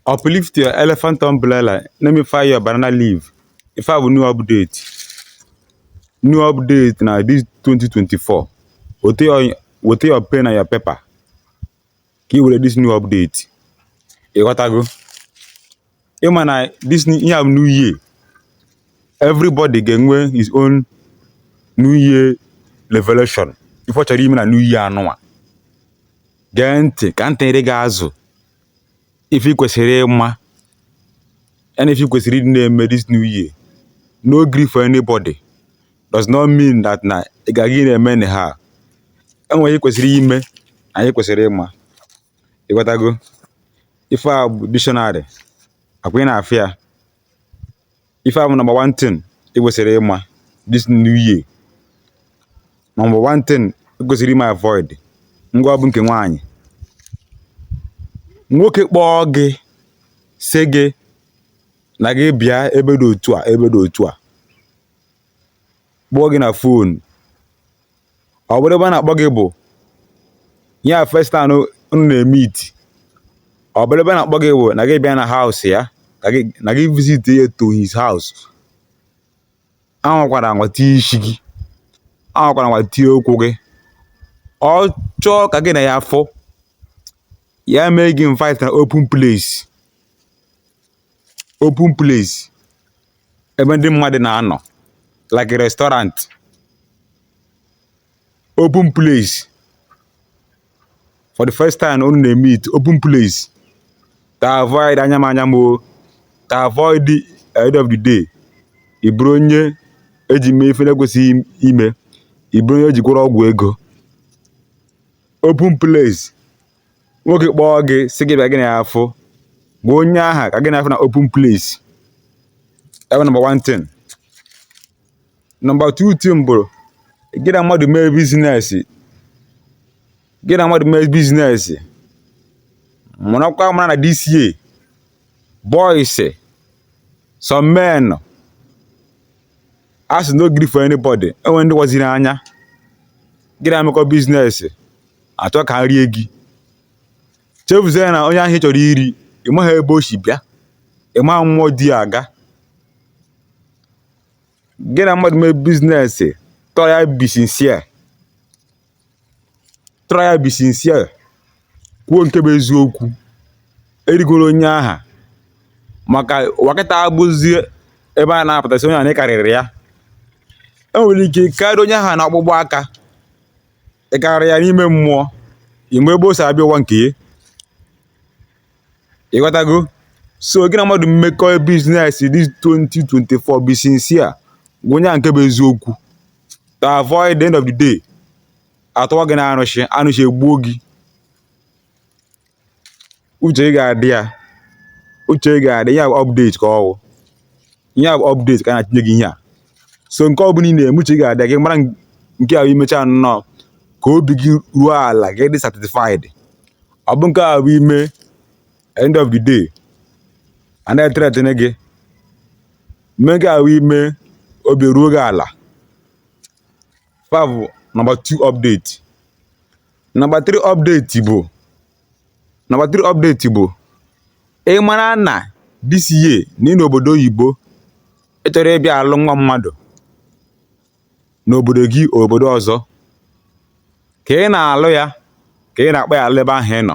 uplift your elephant umbrella let me fire your banana leaf ife a bụ new update new update na this 2024 weta your pen na your paper ka ị were this new update ịghọtago ịma na this new- ihe a bụ new year everybody ga-enwe his own new year revelation ife ọ chọrọ ime na new year anụnwa gee ntị ka ntị gị ga-azụ ife ị kwesịrị ịma and ife ị kwesịrị ịdị na-eme this new year no gree for anybody does not mean that na ị ga-eji na-eme anyhow enwere ihe ị kwesịrị ime na ihe ị kwesịrị ịma ịghọtago ife a bụ dictionary akwa ị na-afịa ife a bụ number one thing ị kwesịrị ịma this new year number one thing ị kwesịrị ịma avoid ngwa ọ bụ nke nwaanyị nwoke kpọọ gị sị gị na gị bịa ebe dị otu a ebe dị otu a kpọọ gị na phone ọ bụrụ ebe a na-akpọ gị bụ your first time unu na-emeet ọ bụrụ ebe a na-akpọ gị bụ na gị bịa na house ya na gị visit ya to his house anwakwara anwa tie isi gị anwakwara anwa tie ụkwụ gị ọ chọọ ka gị na ya afụ ya mee gị invite na open place open place ebe ndị mmadụ na-anọ like restaurant open place for the first time unu na-emeet open place to avoid anya m anya m o to avoid the end of the day ị bụrụ onye eji mee ife na-ekwesịghị ime ị bụrụ onye eji gwọrọ ọgwụ ego open place nwoke kpọọ gị sị gị bịa gị na ya afụ gwa onye aha ka gị na ya afụ na open place ebe number one thing number two thing bụ gị na mmadụ mee business gị na mmadụ mee business mụrụkwa mara na this year boys some men asị no gree for anybody enwere ndị waziri anya gị na ha emekọ business achọ ka ha rie gị chefuzie na onye ahụ ị chọrọ iri ị maghị ebe o si bịa ị maghị mmụọ o ji aga gị na mmadụ mee business try and be sincere try and be sincere kwuo nke bụ eziokwu erikwara onye aha maka ụwa kịta abụzie ebe a na-apụta asị onye ahụ na ị karịrị ya e nwere ike karịa onye ahụ na ọkpụkpụ aka ị karịrị ya n'ime mmụọ ị ma ebe o si abịa ụwa nke ya ịghọtago so gị na mmadụ mmekọ business this 2024 be sincere gwa onye ahụ nke bụ eziokwu to avoid the end of the day atụwa gị n'arụshị arụshị egbuo gị uche ga-adị ya uche ga-adị ya ihe update ka ọ wụ ihe update ka a na-achịnye gị ihe a so nke ọ bụla ị na-eme uche ga-adị ya gị mara nke ahụ i mechaa nnọọ ka obi gị ruo ala gị dị satisfied ọ bụ nke a bụ i mee end of the day a na-ethreaten gị mee nke ahụ i mee obi ruo gị ala fa bụ nọmba 2 update Nọmba 3 update bụ Nọmba 3 update bụ ị mara na this year na ị nọ obodo oyibo ị chọrọ ịbịa alụ nwa mmadụ n'obodo gị obodo ọzọ ka ị na-alụ ya ka ị na-akpọ ya ala ebe ahụ ị nọ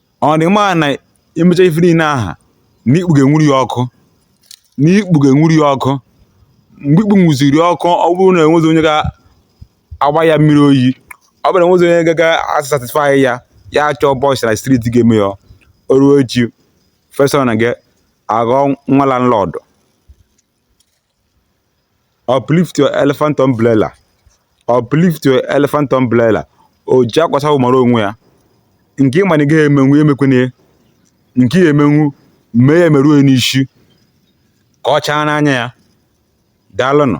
ọ dị mma na i mechaa ife niile aha na ikpu ga-enwuru ya ọkụ na ikpu ga-enwuru ya ọkụ mgbe ikpu nwuziri ọkụ ọ bụrụ na enwezi onye ga-agba ya mmiri oyi ọ bụrụ na enwezi onye ga- ga-asatisfy ya ya achọọ boys na street ga-eme ya o ruo echi first son gị aghọọ nwa landlord uplift your elephant umbrella uplift your elephant umbrella o ji akwa asa ahụ mara onwe ya nke ị ma na ị gaghị emenwu ya emekwana ya nke ị ya-emenwu mee ya emeruo ya n'isi ka ọ chaa n'anya ya daalụnụ